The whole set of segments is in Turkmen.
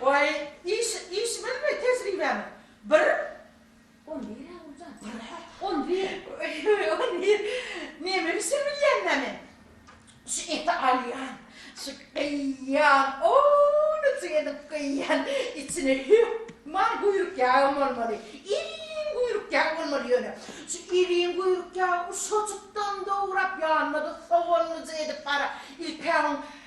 Waý, iş, işimiz-mi, tejribämi? Bir. On bir-ä, Guljan. Bir-ä? On bir. On bir. Neme bişir bilýän näme? Şu eti alýan, şu gyýýan, onyjy edip gyýýan, içine hökman guýruk ýagam bolmaly, iriň guýruk ýag bolmaly ýöne. Şu iriň guýruk ýagy uşajykdan dograp, ýanyna-da soganlyja edip, gara, ilk-ä oň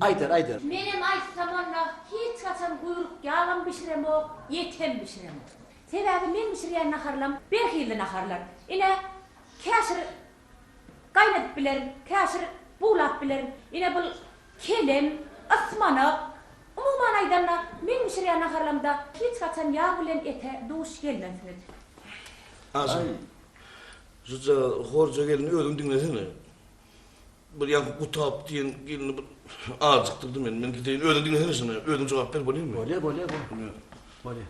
Aýder aýder. Menem aýtsam onda hiç haçan guýruk ýagam bişiremok, et hem bişiremok. Sebäbi meň bişirýän naharlam bir hilli naharlar. Ine, käşir gaýnadyp bilerin, käşir buglap bilerin. Ine bul kelem, ysmanak. Umuman aýdanda meň bişirýän naharlamda hiç haçan ýag bilen ete duş gelmensiňiz. Aý, şujagaz horja gelin özüň diňlesene. Bir ýaňky Gutap diýen gelni bir ajykdyrdy meni. Men gideýin. Özüň diňesene şuny. Özüň jogap ber, bolýarmy? Bolýar, bolýar, bol. Bolýar.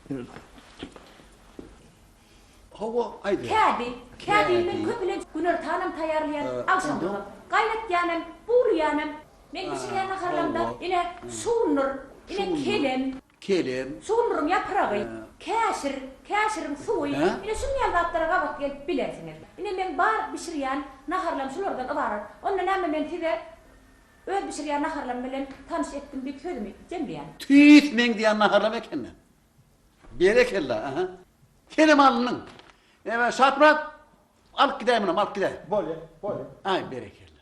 Bolýar. Hawa, aýda. Kädi, kädi men köplenç günortanam taýýarlaýan, agşamlygyam. Gaýnatýanam, buwlaýanam. Men bişirýän naharlarymda, ine, şundur, ine, kelem. kelem. Sugundyryň ýapragy, käşir, käşiriň suwy, ine şunuň ýaly zatlara gabat gelip bilersiňiz. Ine meň bar bişirýän naharlarym şulardan ybarat. Onda näme men size öz bişirýän naharlarym bilen tanyş etdim diýip sözümi jemleýän. Tüýs meň diýen naharlarym ekeni. Berekella, aha. Kelem alnyň. Ebä Şaprak alyp gidäýmenem, alyp gidäý. Bolýa, bolýa. Aý berekella.